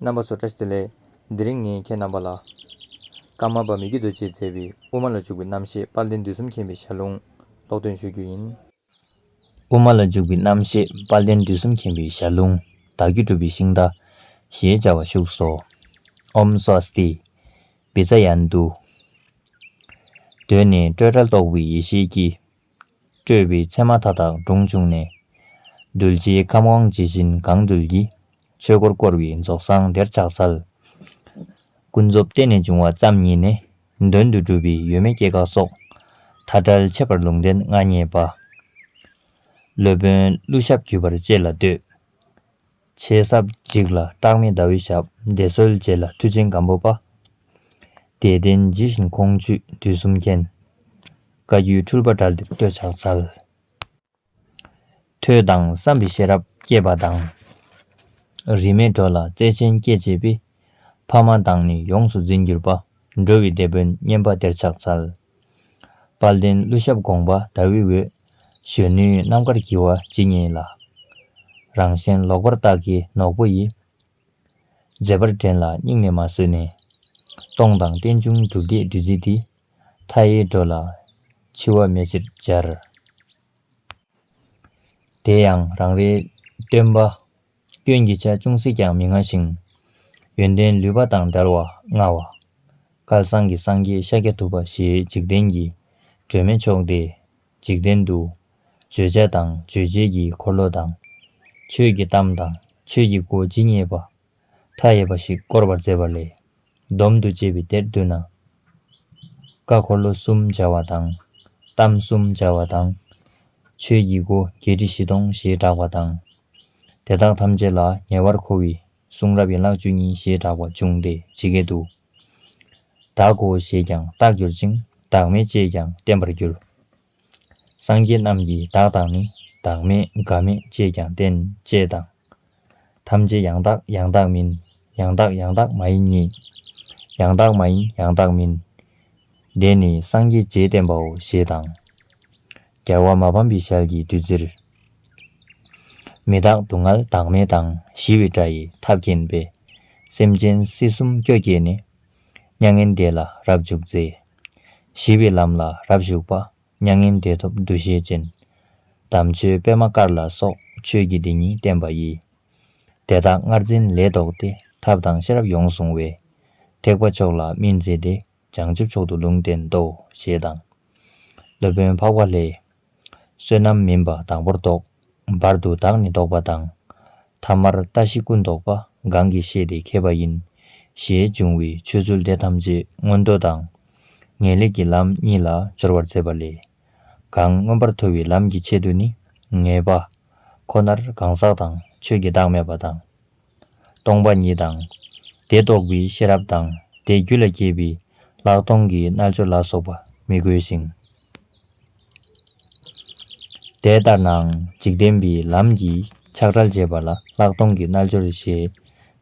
རྣམ་པ་བཟོ་གྲྭ་ཟེར། ལས་འདི་རིང་ངས་ཁྱེད་རྣམ་པ་ལ། སྐར་མ་པདྨའི་རྒྱུད་དུ་ཅེས་མཛད་པའི་དབུ་མ་ལ་འཇུག་པའི་རྣམ་བཤད་དཔལ་ལྡན་དུས་གསུམ་མཁྱེན་པའི་ཞལ་ལུང་ཀློག་འདོན་ཞུ་རྒྱུ་ཡིན། དབུ་མ་ལ་འཇུག་པའི་རྣམ་བཤད་དཔལ་ལྡན་དུས་གསུམ་མཁྱེན་པའི་ཞལ་ལུང་བདག་རྒྱུད་གྲུབ་པའི་ཤིང་རྟ། ཞེས་བྱ་བ་བཞུགས་སོ། ཨོམ་སཱོ་སྟི། བི་ཛཱ་ཡཱ་ནནྡུ། གདོད་ནས་སྤྲོས་བྲལ་རྟོགས་པའི་ཡེ་ཤེས་ཀྱི། སྤྲོས་པའི་མཚན་མ་མཐའ་དག་དྲུངས་བྱུང་ནས། གདུལ་བྱའི་ཁམས་དབང་ཇི་བཞིན་གང་འདུལ་གྱི། ཆོས་འཁོར་བསྐོར་བའི་རྫོགས་སངས་དེར་ཕྱག་འཚལ། ཀུན་རྫོབ་བསྟན་ནས་འབྱུང་བ་ཙམ་ཉིད་ནི། དོན་དུ་སྒྲུབ་པའི་ཡོད་མེད་སྐྱེ་འགག་སོགས། མཐའ་བྲལ་འཆད་པར་ལུང་བསྟན་མངའ་བརྙེས་པ། སློབ་དཔོན་ཀླུ་ཞབས་བརྒྱུད་པར་བཅས་ལ་བསྟོད། ཆེ་ས་གཅིག་ལ་སྐྲག་མེད་ཟླ་བའི་ཞབས་འདེགས་སོལ་བཅས་ལ་མཐུ་ཆེན་སྒམ་པོ་པདྨའི་གདན་ཇི་བཞིན་ཁོང་བཅུས་དུས་གསུམ་མཁྱེན། བཀའ་བརྒྱུད་འཁྲུལ་པ་དགྲ་འདིར་གཏོད་ཕྱག་འཚལ། ཐོས་དང་བསམ་པའི་ཤེས་རབ་བསྐྱེད་པ་དང། རིས་མེད་འགྲོ་ལ་བརྩེ་ཆེན་བསྐྱེད་བྱེད་པའི། ཕ་མ་དང་ནི་ཡོངས་སུ་འཛིན་གྱུར་པ། འགྲོ་བའི་སྡེ་དཔོན་སྙན་པ་དེར་ཕྱག་འཚལ། དཔལ་ལྡན་ཀླུ་ཞབས་དགོངས་པ་ཟླ་འོད་འོད། གཞོན་ནུའི་རྣམ་དཀར་བགྱི་བ་ཇི་སྙེད་ལ། རང་གཞན་ལོག་པར་བརྟགས་ཀྱི་ནོག་པོ་ཡིས། མཛེས་པར་འགྲན་ལ་སྙིང་ནས་མ་བཟོད་ནས། སྟོང་དང་རྟེན་འབྱུང་སྒྲུབ་སྡེའི་བདུད་རྩི་འདི། མཐའ་ཡས་འགྲོ་ལ་འཆི་བ་མེད་ཕྱིར་སྦྱར། དེ་ཡང་རང་རེའི་སྟོན་པ་སྐྱོན་གྱི་ཆ་ཅུང་ཟད་ཀྱང་མི་མངའ་ཞིང། ཡོན་ཏན་ལུས་པ་དང་འདྲར་བ་མངའ་བ། བསྐལ་བཟང་གི་སངས་རྒྱས་ཤཱཀྱ་ཐུབ་པ་ཞེས་འཇིག་རྟེན་གྱི་སྒྲོན་མེ་མཆོག་སྟེ། འཇིག་རྟེན་དུ། བརྗོད་བྱ་དང་རྗོད་བྱེད་ཀྱི་འཁོར་ལོ་དང། ཆོས་ཀྱི་གཏམ་དང་ཆོས་ཀྱི་སྒོ་ཇི་སྙེད་པ། མཐའ་ཡས་པ་ཞིག་བསྐོར་བར་མཛད་པ་ལས། སྡོམ་དུ་བྱས་པའི་དེར་བསྡུ་ན། བཀའ་འཁོར་ལོ་གསུམ་སྦྱར་བ་དང། གཏམ་གསུམ་སྦྱར་བ་དང། ཆོས་ཀྱི་སྒོ་བརྒྱད་ཁྲི་བཞི་སྟོང་ཞེས་བསྒྲགས་པ་དང། དེ་དག་ཐམས་ཅད་ལ་ཉེ་བར་མཁོ་བའི་གསུང་རབ་ཡན་ལག་བཅུ་གཉིས་ཞེས་བསྒྲགས་པ་འབྱུང་སྟེ་ཇི་སྐད་དུ། བདག་གོ་ཞེས་ཀྱང་བརྟགས་གྱུར་ཅིང་བདག་མེད་ཅེས་ཀྱང་བསྟན་པར་གྱུར། སངས་རྒྱས་རྣམས་ཀྱིས་བདག་དང་ནི་བདག་མེད་འགའ་མེད་ཅེས་ཀྱང་བསྟན་ཅེས་དང། ཐམས་ཅད་ཡང་དག་ཡང་དག་མིན། ཡང་དག་ཡང་དག་མ་ཡིན་གཉིས། ཡང་དག་མ་ཡིན་ཡང་དག་མིན། འདས་ནི་སངས་རྒྱས་རྗེས་བསྟན་པའོ་ཞེས་དང། རྒྱལ་བ་མ་ཕམ་པའི་ཞལ་གྱི་བདུད་རྩིར། མི་རྟག་སྡུག་བསྔལ་བདག་མེད་དང་ཞི་བའི་སྒྲ་ཡིས་ཐབས་མཁྱེན་པས། སེམས་ཅན་སྲིད་གསུམ་སྐྱོ་སྐྱེས་ནས། མྱ་ངན་འདས་ལ་རབ་འཇུག་མཛད། ཞི་བའི་ལམ་ལ་རབ་ཞུགས་པ། མྱ་ངན་འདས་ཐོབ་འདུ་ཤེས་ཅན། དམ་ཆོས་པདྨ་དཀར་ལ་སོགས་ཆོས་ཀྱི་སྡེ་གཉིས་བསྟན་པ་ཡི། དེ་དག་སྔར་འཛིན་ལས་ལྡོག་སྟེ་ཐབས་དང་ཤེས་རབ་ཡོངས་བཟུང་བས། ཐེག་པ་མཆོག་ལ་སྨིན་མཛད་དེ་བྱང་ཆུབ་མཆོག་ཏུ་ལུང་བསྟན་ཏོ་ཞེས་དང། སློབ་དཔོན་འཕགས་པ་ལྷའི། བསོད་ནམས་མིན་པ་དང་པོར་རྟོགས། བར་དུ་བདག་ནི་བཟློག་པ་དང། ཐ་མར་ལྟ་ཞི་ཀུན་བཟློག་པ་གང་གིས་ཤེས་ཏེ་མཁས་པ་ཡིན། ཞེས་འབྱུང་བའི་ཆོས་ཚུལ་དེ་ཐམས་ཅད་མངོན་མདོ་དང། ངེས་ལེགས་ཀྱི་ལམ་གཉིས་ལ་སྦྱོར་བར་མཛད་པ་ལས། གང་མངོན་པར་མཐོ་བའི་ལམ་གྱི་ཆེད་དུ་ནི། ངེས་པ། ཁོ་ནར་གང་ཟག་དང་ཆོས་ཀྱི་བདག་མེད་པ་དང། སྟོང་པ་ཉིད་དང། དེ་རྟོགས་པའི་ཤེས་རབ་དང་དེའི་རྒྱུད་ལ་སྐྱེས་པའི་ལྷག་མཐོང་གི་རྣལ་འབྱོར་ལ་སོགས་པ་མི་དགོས་ཤིང། དེ་ལྟར་ནའང་འཇིག་རྟེན་པའི་ལམ་གྱིས་ཆགས་བྲལ་བྱེད་པ་ལ་ལྷག་མཐོང་གི་རྣལ་འབྱོར་ཞེས་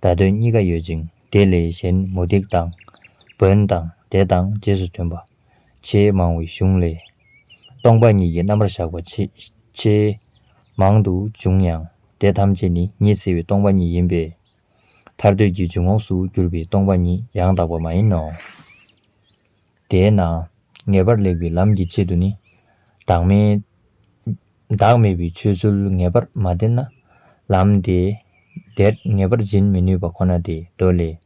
བརྡ་དོན་གཉིས་ཀ་ཡོད་ཅིང་དེ་ལས་གཞན་མུ་སྟེགས་དང། བོན་དང་དེ་དང་རྗེས་སུ་མཐུན་པ། ཆེས་མང་བའི་གཞུང་ལས། སྟོང་པ་ཉིད་ཀྱི་རྣམ་པར་བཞག་པ་ཆེས། མང་དུ་འབྱུང་ཡང་དེ་ཐམས་ཅད་ནི་ཉི་ཚེ་བའི་སྟོང་པ་ཉིད་ཡིན་པས། ཐར་འདོད་ཀྱི་འཇུག་ངོགས་སུ་གྱུར་པའི་སྟོང་པ་ཉིད་ཡང་དག་པ་མ་ཡིན་ནོ། དེས་ན་ངེས་པར་ལེགས་པའི་ལམ་གྱི་ཆེད་དུ་ནི། བདག་མེད། བདག་མེད་པའི་ཆོས་ཚུལ་ངེས་པར་མ་བསྟན་ན། ལམ་དེ། དེར་ངེས་པར་འབྱིན་མི་ནུས་པ་ཁོ་ན་སྟེ་མདོ་ལས།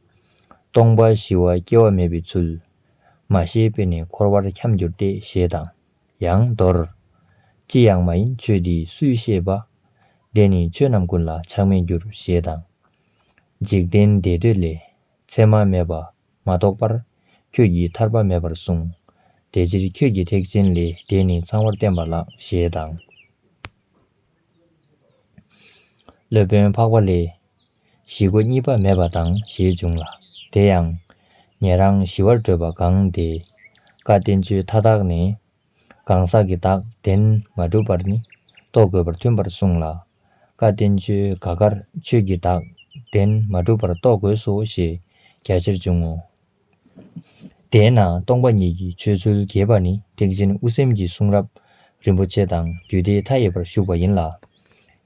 སྟོང་པ་ཞི་བ་སྐྱེ་བ་མེད་པའི་ཚུལ། མ་ཤེས་པས་ནི་འཁོར་བར་འཁྱམས་གྱུར་ཏེ་ཞེས་དང། ཡང་མདོར། ཅི་ཡང་མ་ཡིན་ཆོས་འདི་སུས་ཤེས་པ། དེ་ནི་ཆོས་རྣམས་ཀུན་ལ་ཆགས་མེད་འགྱུར་ཞེས་དང། འཇིག་རྟེན་བདེ་འདོད་ལས། མཚན་མ་མེད་པ། སྐྱེ་མ་གཏོགས་པར། ཁྱོད་ཀྱིས་ཐར་པ་མེད་པར་གསུངས། དེ་ཕྱིར་ཁྱོད་ཀྱི་ཐེག་ཆེན་ལས་དེ་ནི་ཚང་བར་བསྟན་པ་ལགས་ཞེས་དང། སློབ་དཔོན་འཕགས་པ་ལས། གཞི་སྒོ་གཉིས་པ་མེད་པ་དང་ཞེས་འབྱུང་ལ། དེ་ཡང། ཉན་རང་གཞི་བར་བགྲོད་པ་གང་དེས། བཀའ་བསྟན་ཆོས་མཐའ་དག་ནས། གང་ཟག་གི་བདག་བདེན་མ་གྲུབ་པར་ནི། རྟོགས་དགོས་པར་མཐུན་པར་གསུངས་ལ། བཀའ་བསྟན་བཅོས་དགའ་དཀར་ཆོས་ཀྱི་བདག། བདེན་མ་གྲུབ་པར་རྟོགས་དགོས་སོ་ཞེས་རྒྱ་ཆེར་འབྱུང་ངོ། དེས་ན་སྟོང་པ་ཉིད་ཀྱི་ཆོས་ཚུལ་རྒྱས་པ་ནི་ཐེག་ཆེན་དབུ་སེམས་ཀྱི་གསུང་རབ་རིན་པོ་ཆེ་དང་རྒྱུད་སྡེ་མཐའ་ཡས་པར་བཞུགས་པ་ཡིན་ལ།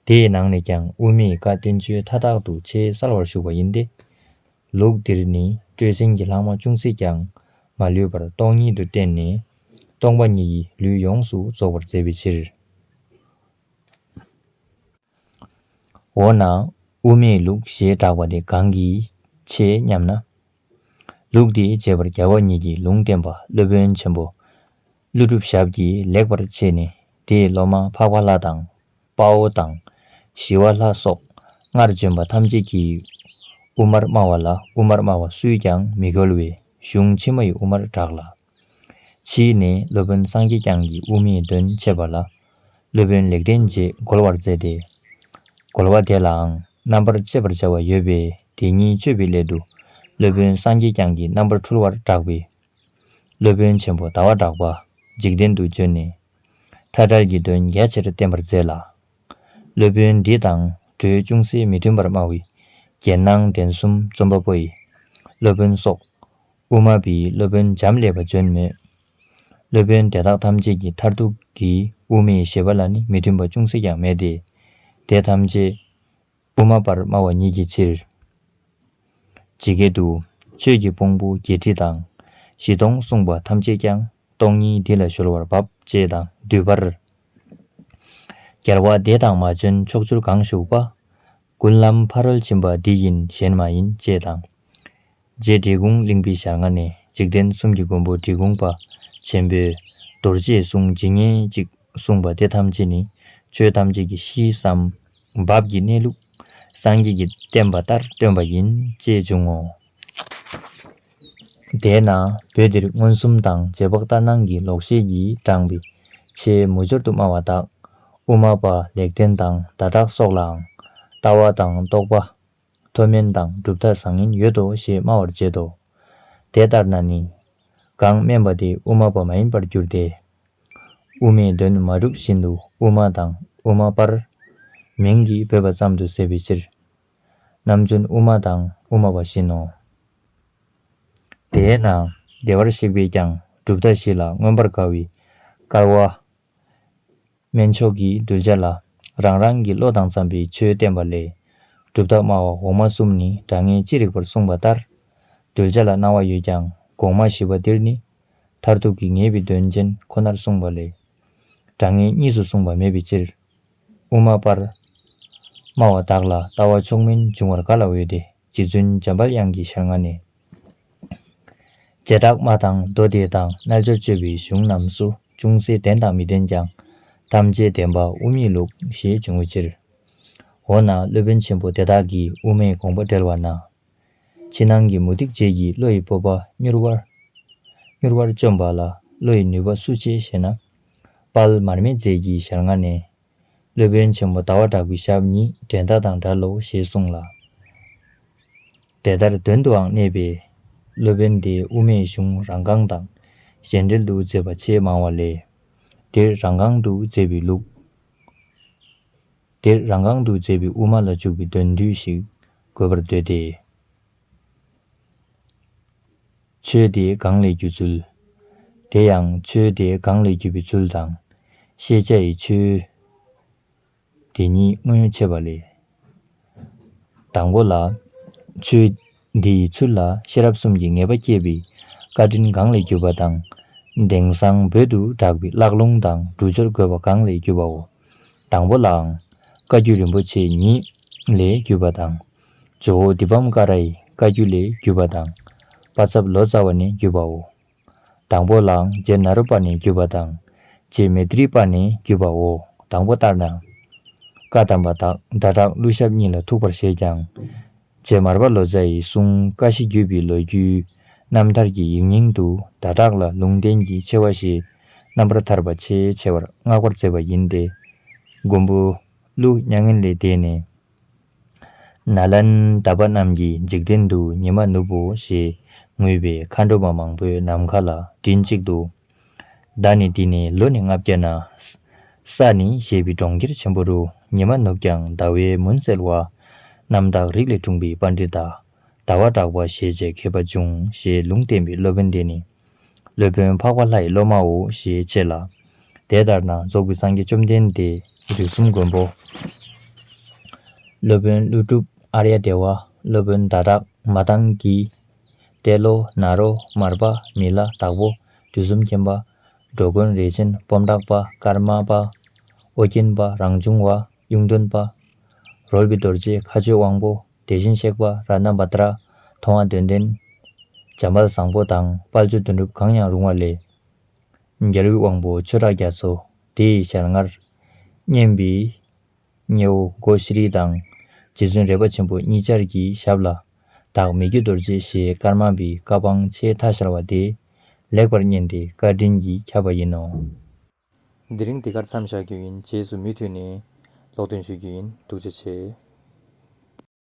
དེའི་ནང་ནས་ཀྱང་དབུ་མེད་བཀའ་བསྟན་བཅོས་མཐའ་དག་ཏུ་ཆེས་གསལ་བར་བཞུགས་པ་ཡིན་ཏེ། ལུགས་འདིར་ནི་སྤྲོས་ཆེན་གྱི་ལྷག་མ་ཅུང་ཟད་ཀྱང་མ་ལུས་པར་སྟོང་ཉིད་དུ་བསྟན་ནས། སྟོང་པ་ཉིད་ཀྱི་ལུས་ཡོངས་སུ་རྫོགས་པར་མཛད་པའི་ཕྱིར། འོ་ན་དབུ་མེད་ལུགས་ཞེས་གྲགས་པ་དེ་གང་གིས་ཆེ་སྙམ་ན། ལུགས་དེའི་རྗེས་པར་རྒྱལ་བ་ཉིད་ཀྱིས་ལུང་བསྟན་པ་སློབ་དཔོན་ཆེན་པོ་ཀླུ་སྒྲུབ་ཞབས་ཀྱིས་ལེགས་པར་ཕྱེས་ནས་དེས་སློབ་མ་འཕགས་པ་ལྷ་དང་དཔའ་བོ་དང་ཞི་བ་ལྷ་སོགས་སྔར་བྱོན་པ་ཐམས་ཅད་ཀྱིས་དབུ་མར་སྨྲ་བ་ལ་དབུ་མར་སྨྲ་བ་སུས་ཀྱང་མི་གོལ་བའི་གཞུང་ཕྱི་མ་ཡི་དབུ་མར་གྲགས་ལ། ཕྱིས་ནས་སློབ་དཔོན་སངས་རྒྱས་བསྐྱངས་ཀྱིས་དབུ་མེད་དོན་འཆད་པ་ལ་སློབ་དཔོན་ལེགས་ལྡན་འབྱེད་བསྒོ་བར་མཛད་དེ། བསྒོ་བ་དེ་ལའང་རྣམ་པར་དཔྱད་པར་བྱ་བ་ཡོད་པས་དེ་ཉིད་དཔྱོད་པའི་སླད་དུ། སློབ་དཔོན་སངས་རྒྱས་བསྐྱངས་ཀྱིས་རྣམ་པར་འཕྲུལ་བར་བསྒྲགས་པས། སློབ་དཔོན་ཆེན་པོ་ཟླ་བ་གྲགས་པ་འཇིག་རྟེན་དུ་བྱོན་ནས། མཐའ་བྲལ་གྱི་དོན་རྒྱ་ཆེར་བསྟན་པར་མཛད་ལ། སློབ་དཔོན་འདི་དང་གྲོས་ཅུང་ཟད་མི་མཐུན་པར་སྨྲ་བའི་རྒྱན་སྣང་ལྡན་གསུམ་རྩོམ་པ་པོ་ཡི་སློབ་དཔོན་སོགས། དབུ་མ་པའི་སློབ་དཔོན་འབྱམས་ཀླས་པ་བྱོན་མོད། སློབ་དཔོན་དེ་དག་ཐམས་ཅད་ཀྱི་མཐར་ཐུག་གི་དབུ་མའི་བཞེད་པ་ལ་ནི་མི་མཐུན་པ་ཅུང་ཟད་ཀྱང་མེད་དེ། དེ་ཐམས་ཅད་དབུ་མ་པར་སྨྲ་བ་ཉིད་ཀྱི་ཕྱིར། ཇི་སྐད་དུ། ཆོས་ཀྱི་དཔུང་པོ་བརྒྱད་ཁྲི་དང། བཞི་སྟོང་གསུངས་པ་ཐམས་ཅད་ཀྱང་སྟོང་ཉིད་འདི་ལ་གཞོལ་བར་བབ་ཅེས་དང་བསྡུས་པར། རྒྱལ་བ་འདས་དང་མ་བྱོན་ཕྱོགས་བཅུར་གང་བཞུགས་པ། ཀུན་ལམ་ཕ་རོལ་ཕྱིན་པ་འདི་ཡིན་གཞན་མ་ཡིན་ཅེས་དང། རྗེ་འབྲི་གུང་གླིང་པའི་ཞལ་སྔ་ནས་འཇིག་རྟེན་གསུམ་གྱི་མགོན་པོ་འབྲི་གུང་པ་ཆེན་པོས། རྡོ་རྗེའི་གསུང་ཇི་སྙེད་ཅིག་གསུངས་པ་དེ་ཐམས་ཅད་ནི་ཆོས་ཐམས་ཅད་ཀྱི་གཤིས་སམ། བབས་ཀྱི་གནས་ལུགས། སངས་རྒྱས་ཀྱི་བསྟན་པ་ལྟར་སྟོན་པ་ཡིན་ཅེས་འབྱུང་ངོ། དེས་ན་བོད་འདིར་མངོན་སུམ་དང་རྗེས་དཔག་ལྟར་སྣང་གི་ལོག་ཤེས་ཀྱིས་དྲངས་པའི་ཆེས་མུ་ཅོར་དུ་སྨྲ་བ་དག། དབུ་མ་པ་ལེགས་ལྡན་དང་བརྡ་དག་སོགས་ལའང། ལྟ་བ་དང་རྟོགས་པ། མཐོ་དམན་དང་གྲུབ་མཐའ་བཟང་ངན་ཡོད་དོ་ཞེས་སྨྲ་བར་བྱེད་དོ། དེ་ལྟར་ན་ནི། གང་སྨན་པ་དེ་དབུ་མ་པ་མ་ཡིན་པར་འགྱུར་ཏེ། དབུ་མའི་དོན་མ་གྲུབ་བཞིན་དུ་དབུ་མ་དང་དབུ་མ་པར། མིང་གིས་འབོད་པ་ཙམ་དུ་ཟད་པའི་ཕྱིར། ནམ་རྒྱུན་དབུ་མ་དང་དབུ་མ་པ་བཞིན་ནོ། དེས་ན་བདེ་བར་གཤེགས་པས་ཀྱང་གྲུབ་མཐའ་བཞི་ལ་མངོན་པར་དགའ་བའི་དཀར་བ། དམན་མཆོག་གི་གདུལ་བྱ་ལ་རང་རང་གི་བློ་དང་འཚམས་པའི་ཆོས་བསྟན་པ་ལས། གྲུབ་མཐའ་སྨྲ་བ་འོག་མ་གསུམ་ནི་སྒྲ་ངན་ཅི་རིགས་པར་གསུངས་པ་ལྟར། གདུལ་བྱ་ལ་སྣང་བ་ཡོད་ཀྱང་གོང་མ་བཞི་པ་འདིར་ནི་མཐར་ཐུག་གི་ངེས་པའི་དོན་ཅན་ཁོ་ནར་གསུངས་པ་ལས། དྲང་ངེས་གཉིས་སུ་གསུངས་པ་མེད་པའི་ཕྱིར། དབུ་མ་པར། སྨྲ་བ་དག་ལ་ལྟ་བ་ཕྱོགས་མིན་འབྱུང་བར་ག་ལ་འོས་ཏེ་རྗེ་བཙུན་འཇམ་དཔལ་དབྱངས་ཀྱི་ཞལ་སྔ་ནས། རྗེ་བྲག་དམར་དང་མདོ་སྡེ་དང་རྣལ་འབྱོར་སྤྱོད་པའི་གཞུང་རྣམས་སུ་ཅུང་ཟད་བདེན་དང་མི་བདེན་ཀྱང། ཐམས་ཅད་བདེན་པ་དབུ་མའི་ལུགས་ཞེས་འབྱུང་བའི་ཕྱིར། འོ་ན་སློབ་དཔོན་ཆེན་པོ་དེ་དག་གིས་དབུ་མའི་དགོངས་པ་འགྲེལ་བ་ན། ཕྱི་ནང་གི་མུ་སྟེགས་བྱེད་ཀྱི་བློ་ཡི་སྤོབས་པ་མྱུར་བར། མྱུར་བར་བཅོམ་པ་ལ་བློ་ཡི་ནུས་པ་སུ་ཆེ་ཞེ་ན། དཔལ་མར་མེ་མཛད་ཀྱི་ཞལ་སྔ་ནས། སློབ་དཔོན་ཆེན་པོ་ཟླ་བ་དྲག་པོའི་ཞབས་གཉིས་འགྲན་ཟླ་དང་འདྲ་ལོ་ཞེས་གསུངས་ལ། དེ་ལྟར་དོན་དུའང་གནས་པས། སློབ་དཔོན་དེས་དབུ་མའི་གཞུང་རང་རྐང་དང་གཞན་འགྲེལ་དུ་མཛད་པ་ཆེས་མང་བ་ལས། འདིར་རང་རྐང་དུ་མཛད་པའི་ལུགས། འདིར་རང་གང་དུ་མཛེས་པའི་དབུ་མ་ལ་འཇུག་པའི་འདོད་མདུད་ཞིག་དགོས་པར་འདོད་དེ། ཆོས་དེའི་སྒང་ལས་བརྒྱུད་ཚུལ། དེ་ཡང་ཆོས་དེའི་སྒང་ལས་བརྒྱུད་པའི་ཚུལ་དང། ཤེས་བྱ་ཡི་ཆོས། དེ་གཉིས་དངོས་ཡོད་ཕྱེ་བ་ལས། དང་པོ་ལ། ཆོས། འདི་ཡི་ཚུལ་ལ་ཤེས་རབ་གསུམ་གྱི་ངེས་པ་བསྐྱེད་པའི་བཀའ་དྲིན་གང་ལས་གྱུར་པ་དང། དེང་བཟང་བོད་དུ་གྲགས་པའི་བཀླག་ལུང་དང་འབྲུ་སྦྱོར་དགོས་པ་གང་ལས་གྱུར་པའོ། དང་པོ་ལའང། བཀའ་བརྒྱུད་རིན་པོ་ཆེ་ཉིད་ལས་གྱུར་པ་དང། ཇོ་བོ་བདུད་བམ་ཀ་ར་ཡི་བཀའ་བརྒྱུད་ལས་གྱུར་པ་དང། པ་ཚབ་ལོ་ཙཱ་བ་ནས་གྱུར་པའོ། དང་པོ་ལ་རྗེ་ནཱ་རོ་པ་ནི་བརྒྱུད་པ་དང། རྗེ་མེ་དྲི་པ་ནི་བརྒྱུད་པའོ། དང་པོ་ལྟར་ན། བཀའ་གདམས་པ་དག་བརྡ་དག་གླུ་ཞབས་གཉིས་ལ་ཐུག་པར་བཞེད་ཀྱང། རྗེ་མར་པ་ལོ་ཙཱ་ཡི་གསུང་བཀའ་བཞི་བརྒྱུད་པའི་ལོ་རྒྱུས། རྣམ་ཐར་གྱི་ཡིག་རྙིང་དུ་བརྡ་དག་ལ་ལུང་བསྟན་གྱི་ཆེ་བ་ཞེས་རྣམ་པར་ཐར་པ་ཆེས་ཆེ་བར་བསྔགས་པར་མཛད་པ་ཡིན་ཏེ། མགོན་པོ། ཀླུ་གཉན་ངན་ལས་འདས་ནས། ན་ལན་ད་པ་རྣམས་ཀྱིས་འཇིག་རྟེན་དུ་ཉི་མ་ནུབ་བོ་ཞེས་ངུས་པས་མཁའ་འགྲོ་མ་མང་པོའི་ནམ་མཁའ་ལ་མགྲིན་གཅིག་ཏུ། བདག་ནི་འདི་ནས་ལོ་ནི་ལྔ་བརྒྱ་ན། ས་ནི་ཞེས་པའི་གྲོང་ཁྱེར་ཆེན་པོ་རུ་ཉི་མ་ནུབ་ཀྱང་ཟླ་བའི་མུན་སེལ་བ། རྣམ་དག་རིགས་ལས་འཁྲུངས་པའི་པཎྜི་ཏར་ཟླ་བ་གྲགས་པ་ཞེས་བྱའི་མཁས་པ་འབྱུང་ཞེས་ལུང་བསྟན་པའི་སློབ་དཔོན་དེ་ནི། སློབ་དཔོན་འཕགས་པ་ལྷ་ཡི་སློབ་མའོ་ཞེས་འཆད་ལ། དེ་ལྟར་ན་རྫོགས་པའི་སངས་རྒྱས་བཅོམ་ལྡན་འདས་དུས་གསུམ་མགོན་པོ། སློབ་དཔོན་ཀླུ་སྒྲུབ་ཨར་ཡ་དེ་བ་སློབ་དཔོན་ཟླ་དག་མ་བཏང་གི། ཏེ་ལོ་ན་རོ་མར་པ་མི་ལ་དྭགས་པོ་དུས་གསུམ་མཁྱེན་པ། འགྲོ་མགོན་རས་ཆེན་སྤོམ་བྲག་པ་ཀརྨ་པ། ཨོ་རྒྱན་པ་རང་བྱུང་བ་གཡུང་སྟོན་པ། རོལ་པའི་རྡོ་རྗེ་མཁའ་སྤྱོད་དབང་པོ་དེ་བཞིན་གཤེགས་པ་ར་ནམ་བ་ཏྲ། མཐོང་བ་དོན་ལྡན། བྱམས་པ་བཟང་པོ་དང་དཔལ་ཆོས་དོན་གྲུབ་གང་ཡང་རུང་བ་ལས། རྒྱལ་བའི་དབང་པོ་ཆོས་གྲགས་རྒྱ་མཚོ་དེ་ཡི་ཞལ་སྔར། སྙན་པའི། སྙེ་བོ་སྒོ་ཤི་རིལ་དང། རྗེ་བཙུན་རལ་པ་ཆེན་པོ་གཉིས་ཅར་གྱི་ཞབས་ལ། བདག་མེད་རྒྱུད་རྡོ་རྗེ་ཞེས་དཀར་དམར་བའི་བཀའ་དཔང་ཆེས་མཐའ་ཤར་བ་དེ། ལེགས་པར་བསྙེན་ཏེ་བཀའ་དྲིན་གྱིས་ཁྱབ་པ་ཡིན་ནོ། འདི་རིང་འདི་གར་མཚམས་བཞག་རྒྱུ་ཡིན་རྗེས་སུ་མུས་མཐུད་ནས། ཀློག་འདོན་ཞུ་རྒྱུ་ཡིན་ཐུགས་རྗེ་ཆེ།